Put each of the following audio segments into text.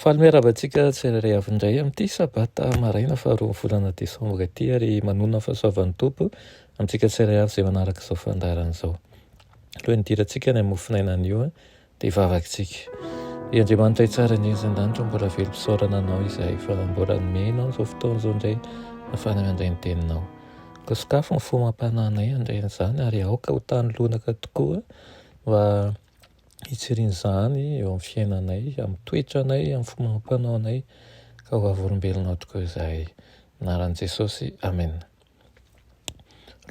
Faly miarahaba antsika tsirairay avy indray amin'ity sabata maraina faharoan'ny volana desambra ity ary manonona ny fahasoavan'ny Tompo amintsika tsirairay avy izay manaraka izao fandaharana izao. Alohan'ny hidirantsika any amin'ny mofonaina anio dia vavakitsika. Ry Andriamanitra hitsara ny ezan-danitra mbola velom-pisaorana anao izahay fa mbola nomena anao izao fotoana izao indray afana mandray ny teninao. Ka sokafy ny fo amam-panahinay handray an'izany ary aoka ho tany lonaka tokoa mba hitsiriana izany eo amin'ny fiainanay, amin'ny toetranay, amin'ny fomba amam-panaonay, ka ho avy olombelona tokoa izahay. Anaran'i Jesosy, Amen.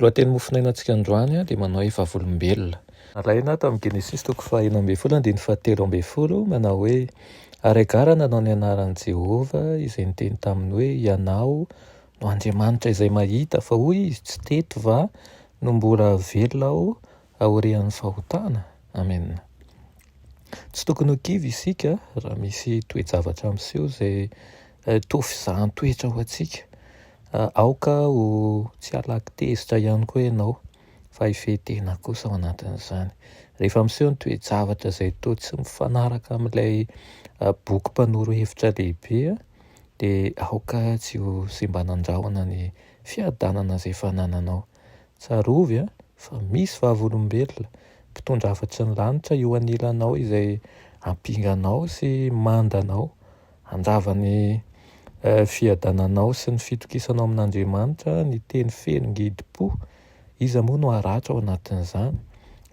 Lohateny mofonainantsika androany dia manao hoe vavolombelona. Alaina tamin'ny Genesisy toko fahenina ambin'ny folo andininy fahatelo ambin'ny folo, manao hoe, Ary Agara nanao ny anaran'i Jehovah, izay niteny taminy hoe, Ianao no Andriamanitra izay mahita, fa hoy izy, Tsy teto va no mbola velona aho aorian'ny fahotana. Amen. Tsy tokony ho kivy isika raha misy toe-javatra miseho izay toa fizahan-toetra ho antsika. Aoka ho tsy halaky tezitra ihany koa ianao, fa hifehy tena kosa ao anatin'izany. Rehefa miseho ny toe-javatra izay toa tsy mifanaraka amin'ilay boky mpanoro hevitra lehibe, dia aoka tsy ho simba nandrahona ny fiadanana izay fanananao. Tsarovy an, fa misy vavolombelona, mpitondra hafatry ny lanitra eo anilanao izay hampinga anao sy manda anao, handrava ny fiadananao sy ny fitokisanao amin'Andriamanitra, ny teny feno ngidim-po, iza moa no haratra ao anatin'izany?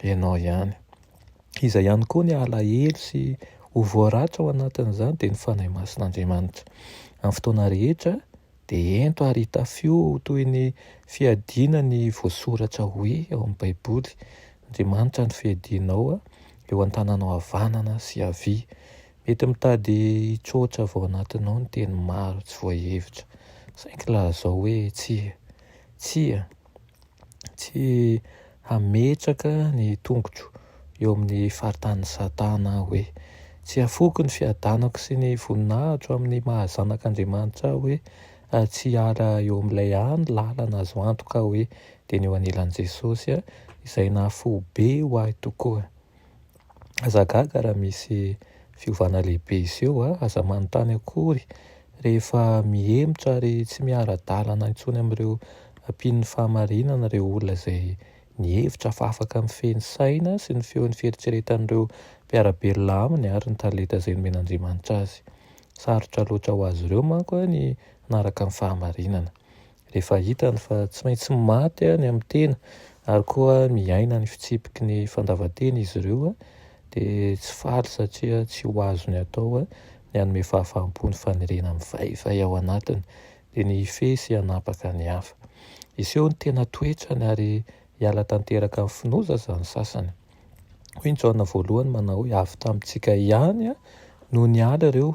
Ianao ihany. Iza ihany koa ny halahelo sy ho voaratra ao anatin'izany? Dia ny Fanahy Masin'Andriamanitra. Amin'ny fotoana rehetra, Dia ento ary hitafio ho toy ny fiadiana ny voasoratra hoe ao amin'ny Baiboly, Andriamanitra no fiadianao eo an-tananao havanana sy havia. Mety mitady hitroatra avy ao anatinao ny teny maro tsy voahevitra, saingy lazao hoe tsia. Tsia. tsy hametraka ny tongotro eo amin'ny faritanin'i Satana aho hoe, tsy hafoiko ny fiadanako sy ny voninahitro amin'ny maha zanak'Andriamanitra aho hoe, tsy hiala eo amin'ilay hany lalana azo antoka aho hoe, dia ny eo anilan'i Jesosy izay nahafoy be ho ahy tokoa. Aza gaga raha misy fiovana lehibe hiseho a! Aza manontany akory rehefa mihemotra ary tsy miara-dalana intsony amin'ireo mpino fahamarinana ireo olona izay nihevitra fa afaka mifehy ny saina sy ny feon'ny fieritreretan'ireo mpiara-belona aminy ary ny talenta izay nomen'Andriamanitra azy. Sarotra loatra ho azy ireo manko ny hanaraka ny fahamarinana. rehefa hitany fa tsy maintsy maty ny amin'ny tena ary koa miaina ny fitsipiky ny fandavan-tena izy ireo dia tsy faly satria tsy ho azony atao ny hanome fahafaham-po ny fanerena mivaivay ao anatiny dia ny hifehy sy hanapaka ny hafa. Hiseho ny tena toetrany ary hiala tanteraka amin'ny finoza izany sasany. Hoy ny Jaona voalohany manao hoe avy tamintsika ihany no niala ireo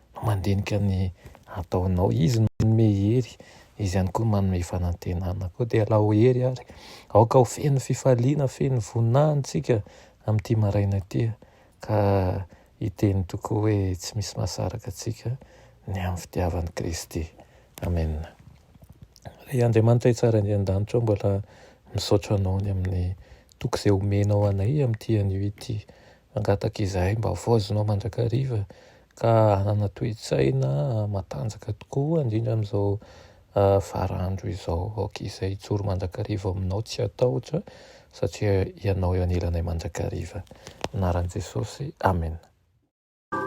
mandinika ny ataonao Izy no manome hery, Izy ihany koa no manome fanantenana Koa dia alao hery ary aoka ho feno fifaliana, feno voninahiny tsika amin'ity maraina ity Ka hiteny tokoa hoe tsy misy mahasaraka antsika ny amin'ny fitiavan'i Kristy Amen Ry Andriamanitra Tsara indrindra an-danitra ao mbola misaotra Anao ny amin'ny toky izay omenao anay amin'ity anio ity Mangataka izahay mba havaozina ao mandrakariva ka hanana toe-tsaina matanjaka tokoa, indrindra amin'izao farandro izao. Aoka izahay hijoro mandrakariva ao Aminao tsy hatahotra, satria Ianao eo anilanay mandrakariva. Anaran'i Jesosy, Amena.